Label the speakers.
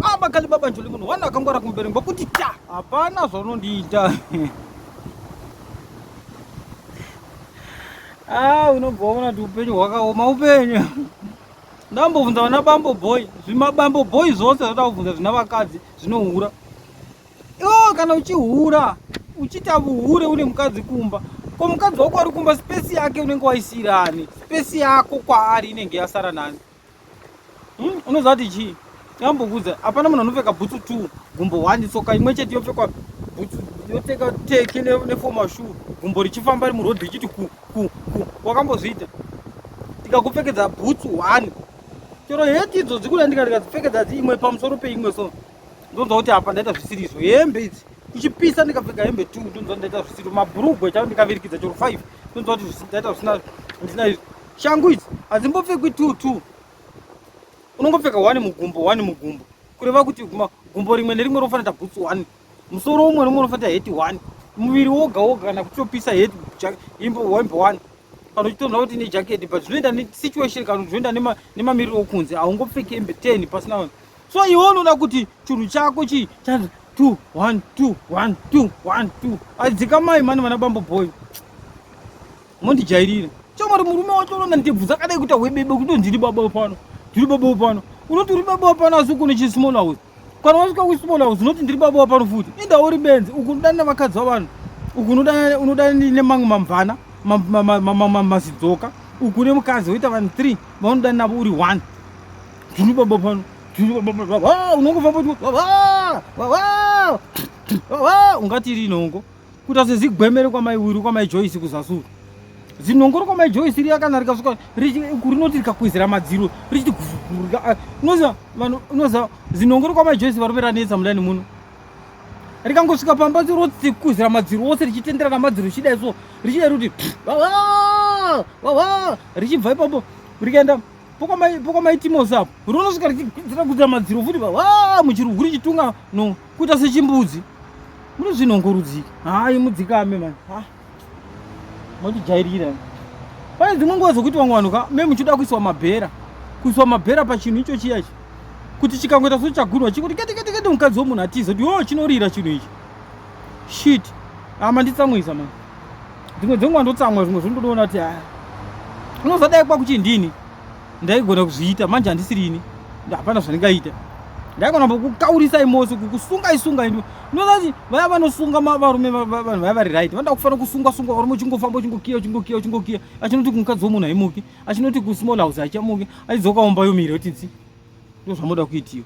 Speaker 1: Ah, makali baba njoli munhu wana akangwara kumberi ngokuti ta hapana zvaunondiita ah unobva waona kuti upenyu hwakaoma upenyu ndambobvunza vana bambo boy zvimabambo boy zvose zvoda kubvunza zvina vakadzi zvinohura iwo kana uchihura uchiita vuhure une mukadzi kumba ko mukadzi wako ari kumba spesi yake unenge waisirani spesi yako kwaari inenge yasara nani Hmm, unoziva kuti chii ambokuudza hapana munhu anopfeka bhutsu t gumbo one tsoka imwe chete yopfekwa bhutsu yopfeka teki nefoma shu gumbo richifamba ri murodhi richiti ku ku ku wakambozviita tikakupfekedza bhutsu one chero heti idzo dzikuda ndikandikadzipfekedza dzi imwe pamusoro peimwe so ndonzwa kuti apa ndaita zvisiri izvo hembe idzi kuchipisa ndikapfeka hembe t ndonzwa ndaita zvisiri mabhurugwe chao ndikavirikidza chero five ndonzwa kuti ndaita zvisina ndisina izvo Shangu idzi hadzimbopfekwi two two. Unongopfeka one mugumbo, one mugumbo. Kureva kuti gumbo rimwe nerimwe rofanira boots one. Musoro umwe nomwe unofanira heti one. Muviri woga woga kana kutopisa heti imbo wembo one. Kana uchitonha kuti ne jacket but zvinoenda ne situation kana zvinoenda nema nemamiriro okunze haungopfeki hembe 10 pasina vanhu. So iwe unoda kuti chunhu chako chi chanzi 2 1 2 1 2 1 2. Adzika mai mani vana bambo boy. Mondijairira. Chomari murume wacho unoona ndebvu dzakadai kuita hwebebe kuti ndiri baba pano. Ndiri baba pano. Unoti uri baba pano asi uko nechi small house. Kana wasvika ku small house unoti ndiri baba pano futi. Enda uri benzi uku unodana vakadzi vanhu. Uku unodana unodana ne mangu mamvana, masidzoka. Uku ne mukadzi woita vanhu 3 vanodana navo uri 1. Ndiri baba pano. Ndiri baba pano. Ah, unongofamba kuti ah, ah, ah, ah, ah, ungati rinongo. kuita sezigwemere kwamai wiri kwamai joyce kuzasuru zinongoro kwamai joyce riya kana rikasvika rinoti rikakwezera madziro richiti ah, unoziva vanhu unoziva zinongoro kwamai joyce varume ranetsa mudani muno rikangosvika pamba rotikwezera madziro ose richitendera namadziro richidai so richidai roti richibva ipapo rikaenda pokwamaitimosapo ronosvika richigwedzera kudzira madziro futi muchiruguri chitunga no kuita sechimbudzi mune zvinhongorudziki hayi mudzikame mani ah, motijairira pane dzimwe nguva dzokuti vamwe vanhu ka me muchida kuiswa mabhera kuiswa mabhera pachinhu icho chiya ichi kuti chikangoita so chagunwa chikuti kete kete kete mukadzi womunhu atiza kuti yoo chinorira chinhu ichi shit ama nditsamwisa mani dzimwe dzenguva ndotsamwa zvimwe zvindodoona kuti haa unozadai kwakuchindini ndaigona kuzviita manje handisiri ini hapana zvandingaita ndaigona kukaurisai mose kukusungai sungai ndozati vaya vanosunga varume vanhu vaya vari right vanoda kufanira kusungwa sungwa varume uchingofamba uchingokiya uchingokiya uchingokiya achinoti kumukadzi womunhu haimuki achinoti kusmall house haichamuki achidzoka omba yomiri yotinzi ndozvamoda kuitiwa